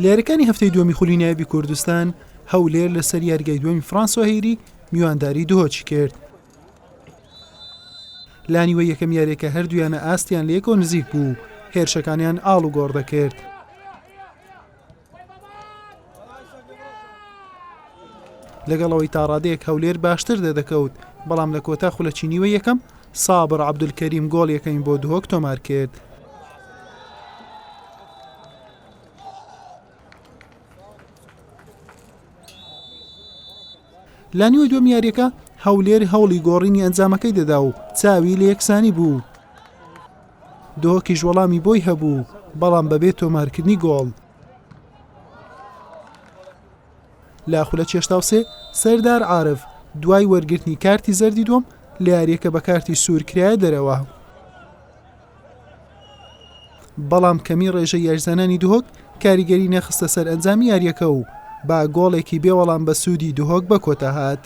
لێرەکانی هەفتەی دووەمی خولی نایبی کوردستان هەولێر لەسەر یاریگای دووەمی فرانسۆ هەیری میوانداری دهۆچی کرد لانیوە یەکەم یاریەکە هەردویانە ئاستیان لەکۆ نزیک بوو هێرشەکانیان ئاڵ و گۆڕ دەکرد لەگەڵ ئەوەی تا ڕادەیەک هەولێر باشتر دەدەکەوت بەڵام لە کۆتا خولە چینیوە یەکەم سابڕ عبدولکەریم گۆڵ یەکەین بۆ دهۆک تۆمار کرد لە نیوە دوم یاریەکە هەولێر هەوڵی گۆڕینی ئەنجامەکەی دەدا و چاوی لە یەکسانی بوو دهۆکیش وەڵامی بۆی هەبوو، بەڵام بەبێ تۆمارکردنی گۆڵ. لە خولە چێشتاو سێ، سەردار عارف دوای وەرگرتنی کارتی زەردی دووەم، لە یارییەکە بە کارتی سوور کرایە دەرەوە. بەڵام کەمی ڕێژەی یاریزانانی دهۆک کاریگەری نەخستە سەر ئەنجامی یارییەکە و با گۆڵێکی بێ وەڵام بە سوودی دهۆک بەکۆتا هات.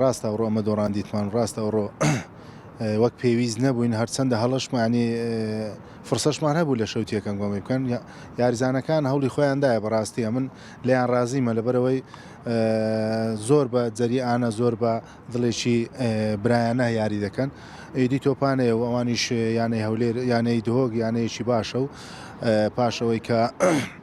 ڕاستە ئەوڕۆ ئەمە دۆڕان دیتمان ڕاستە ئەوڕۆ وەک پێویست نەبووین هەرچەندە هەڵشمانی فرسەشمان هەبوو لە شەوتیەکەم گۆمی بکەن یاریزانەکان هەوڵی خۆیاندایە بەڕاستیە من لەیان ڕازیمە لەبەرەوەی زۆر بە جەریانە زۆر بە دڵێکی برایانە یاری دەکەن ئیدی تۆپانەیە و ئەوانیش یانەی هەولێر یانەی دهۆک یانەیەکی باشە و پاشەوەی کە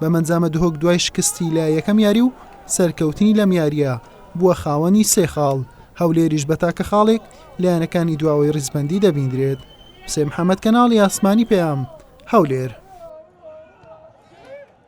بەمەنجامە دهۆک دوای شکستی لە یەکەم یاری و سەرکەوتنی لەم یارییە بووە خاوەنی سێ خاڵ، هەولێریش بە تاکە خاڵێک لە یانەکانی دواوەی ریزبەندی دەبیندرێت. حوسێن محەمەد کەناڵی ئاسمانی پەیام، هەولێر.